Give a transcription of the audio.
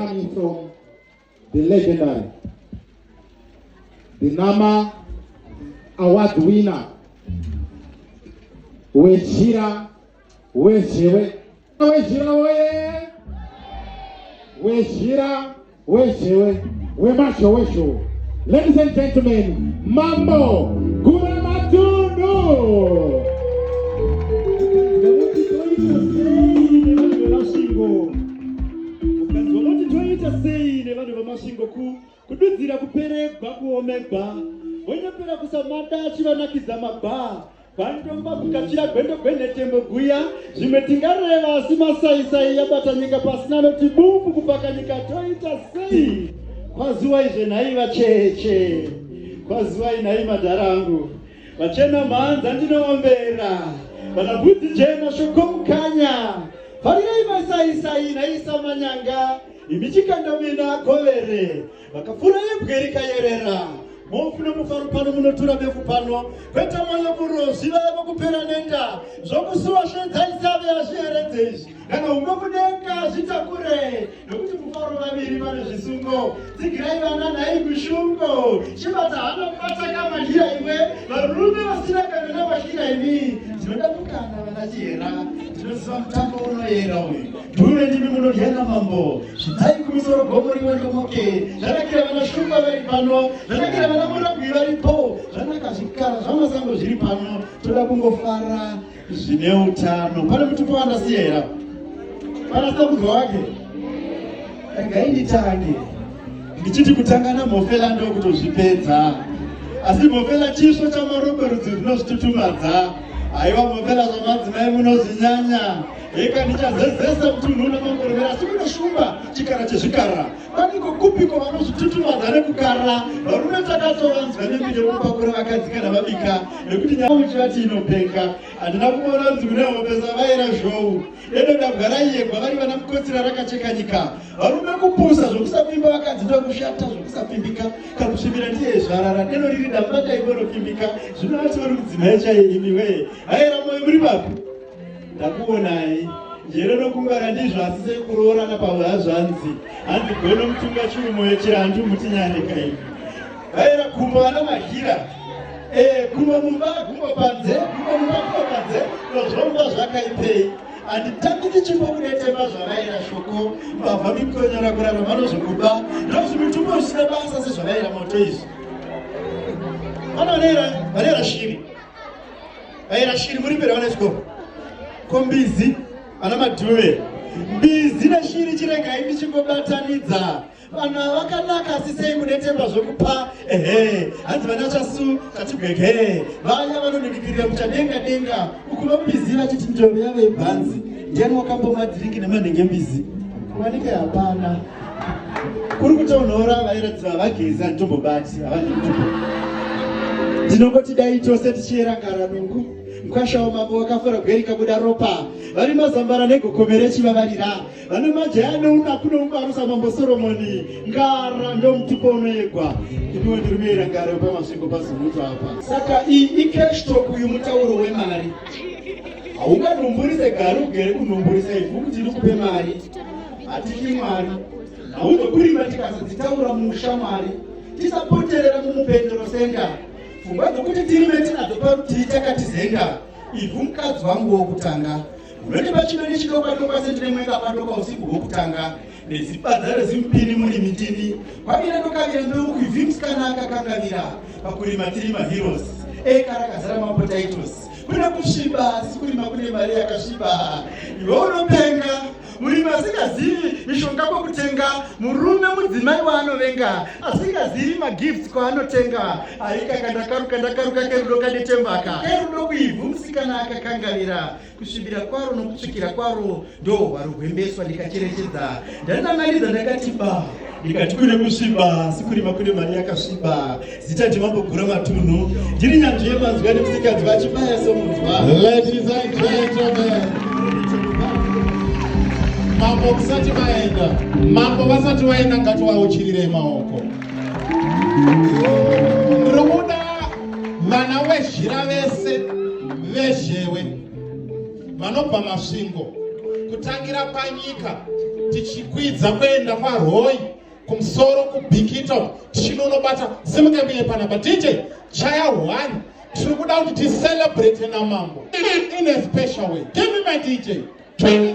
coming from the legendary, the NAMA award winner, Wejira Wejewe. Wejira Weye! Wejira Wejewe. Wemasho Wesho. Ladies and gentlemen, Mambo Gura Matundu! ukanzwa moti toita sei nevanhu vemasvingo ku kududzira kuperegwa kuomegwa vonyepera kusamada achivanakidza mabhaa vandomba kukachira gwendo gwenhetembo guya zvimwe tingareva asi masaisai yabata nyika pasina noti bumbu kupaka nyika toita sei kwaziwai zvenhai vacheche kwaziwai nhai madhara angu Vachena mhanza ndinoombera vana bhudhi jena shokomukanya farirai maisaisai naisa manyanga imi chikandamina govere vakafura yebwe rikayerera mofu nomufaro pano munotura befu pano kweta mwoyo murozi vaya vokupera nenda zvokusuwa shedzaisaveazviheredzei Kana umwe kudenga zvitakure nokuti mufaro vaviri vane zvisungo dzigirai vana nhai kushungo chibata hana kubata kamanhira iwe varume vasina kana navashira imi ndinoda kukana vana chihera ndinoziva mutambo unoyera uyu dhuve ndimi munodyana mambo zvidzai kumusoro gomo rimwe ndomoke zvanakira vana shumba vari pano zvanakira vana murabwi varipo zvanaka zvikara zvamasango zviri pano toda kungofara zvine utano pane mutupo wandasiya here pana samudzwa wake regai nditange ndichiti kutanga namhofela ndokutozvipedza asi mhofela chisvo chamarombe rudzi runozvitutumadza haiwa mhofela zvamadzimai munozvinyanya heka ndichazezesa mutunhu unamangorovera asi kunoshumba chikara chezvikara Vaniko kupiko vanozvitutumadza nekukarira varume takatovanzwa nemiri yekupakura vakadzi kana vabika nekuti nyaya uchivati inopenga handina kuona kuti kune hope zavaira zhou edodabwa raiyegwa vari vana mukotsira rakacheka nyika varume kupusa zvokusapfimba vakadzi ndokushata zvokusapfimbika kakusvimira ndiye zvarara deno riri damba daivoropfimbika zvino vati vari kudzimai chaiye imiwee vaira moyo muri vapi ndakuonai njere nokungwara ndizvo asi sekuroorana pavo hazvanzi hanzi gono mutunga chirumo yechirandu mutinyaneka ivi vaera kumba vana mahira eh, kumba mumba kumba panze kumba mumba kumba panze nozvomba zvakaipei handitangi ndichimbo kunetema zvavaira shoko mbavha mikonyora kurara vanozvokuba ndozvimitumbo zvisina basa sezvavaira moto izvi vanovaneera vaneera shiri Aira shiri muri mbere vana chikoro. Ko mbizi ana madhuve. Mbizi neshiri chiregai ndichingobatanidza. Vanhu vakanaka asi sei munetemba zvokupa ehe hanzi vana chasu katibwegere vaya vanoningikirira muchadenga denga uku vambizi vachiti ndoro yave bhanzi ndiani wakambomwa dhiringi nemanhenge mbizi kuvanike hapana kuri kutonhora vairatidza vagezi handitombobati havana mutupo ndinongoti dai tose tichiyera ngaranungu mkwashawo mambo wakafura gweri kabuda ropa vari mazambara negokomere chivavarira vane majaya neuna kunomubarusa mambo soromoni ngara ndomutupo unoyegwa iniwo ndiri kuyera ngara yopamasvingo pazimuto apa saka iyi ikeshtok uyu mutauro wemari haunganhumburise gari ugere kunhumburisa ivhu kuti ndikupe mari hatityi mwari haundokurimba tikazodzitaura musha mwari tisapoterera mumupendero senga pfungwa dzokuti tirime tinadzo parutivi takatizenga ivhu mukadzi wangu wokutanga unoti pachino nechidokwatokwa sendine mwenga padoka usiku hwokutanga nezipadza rezimpini muri mitini kwavira ndokavira mbeu kuivhi musikana akakangavira pakurima tiri maheroes eka rakazara mapotaitos kuna kusviba sikurima kune mari yakasviba iwe unopenga murimi asingazivi mishonga kwekutenga murume mudzimai waanovenga asingazivi magifts kwaanotenga aikaka ndakaruka ndakaruka kerudo kanetembaka kerudo kuivhu musikana akakangarira kusvibira kwaro nokutsvukira kwaro ndo hwaro hwembeswa ndikacherechedza ndanan'anidza ndakati ba ndikati kune kusviba asi kurima kune mari yakasviba Zita Jimambo Gura Matunhu ndiri nyanzvi yemanzwi ane musikanzi vachibaya somunzwa. Ladies and gentlemen, mambo kusati vaenda, mambo vasati vaenda ngatovauchirirei maoko. Ndiri kuda vana wezhira vese vezhewe vanobva masvingo kutangira panyika tichikwidza kuenda kwaRoyi kumsoro kubikita chino unobata simuka mbiye panapa dj chaya one tiri kuda kuti ticelebrate namambo in a special way give me my dj Hey,